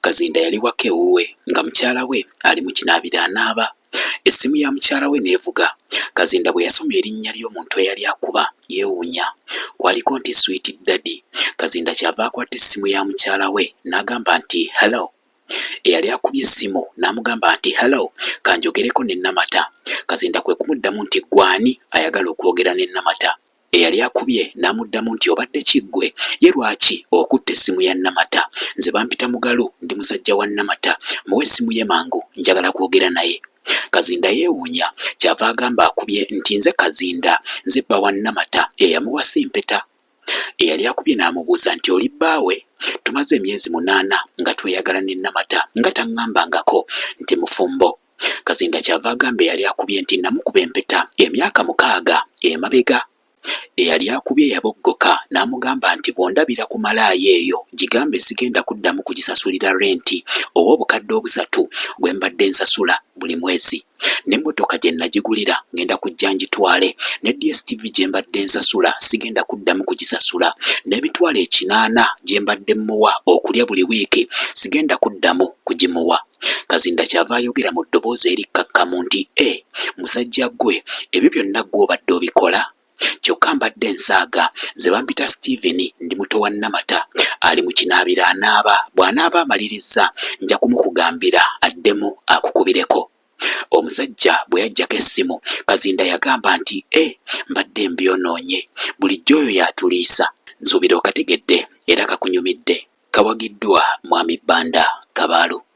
Kazinda yali waka ewuwe nga mukyala we ali mu kinaabiro anaaba, essimu ya mukyala we n'evuga. Kazinda bwe yasoma erinnya ly'omuntu eyali akuba yeewuunya. Kwaliko nti Sweet Daddy. Kazinda ky'ava akwata essimu ya mukyala we n'agamba nti, Hello. Eyali akubye essimu n'amugamba nti, Hello, ka njogereko ne Namata. Kazinda kwe kumuddamu nti, Ggwe ani ayagala okwogera ne Namata? Eyali akubye n'amuddamu nti obadde ki ggwe? Ye lwaki okutte essimu ya Namata? Nze bampita Mugalu ndi musajja wa Namata. Muwe essimu ye mangu njagala kwogera naye. Kazinda yeewuunya ky'ava agamba akubye nti nze Kazinda, nze bba wa Namata eyamuwasa empeta. Eyali akubye n'amubuuza nti oli bbaawe? Tumaze emyezi munaana nga tweyagala ne Namata nga tang'ambangako nti mufumbo. Kazinda kyava agamba eyali akubye nti namukuba empeta emyaka mukaaga emabega eyali akubye yaboggoka n'amugamba nti bw'ondabira ku malaaya eyo gigambe sigenda kuddamu kugisasulira renti oba obukadde obusatu gwe mbadde nsasula buli mwezi n'emmotoka gye nagigulira ngenda kujja ngitwale ne DSTV gye mbadde nsasula sigenda kuddamu kugisasula n'emitwalo ekinaana gye mbadde mmuwa okulya buli wiiki sigenda kuddamu kugimuwa. Kazinda kyava ayogera mu ddoboozi erikkakkamu nti e musajja ggwe ebyo byonna ggwe obadde obikola? Kyokka mbadde nsaaga nze bampita Steven ndi muto wa Namata ali mu kinaabiro anaaba bw'anaaba amalirizza nja kumukugambira addemu akukubireko. Omusajja bwe yaggyako essimu Kazinda yagamba nti e mbadde mbyonoonye bulijjo oyo y'atuliisa nsuubira okategedde era kakunyumidde. Kawagiddwa Mwami Banda Kabaalu.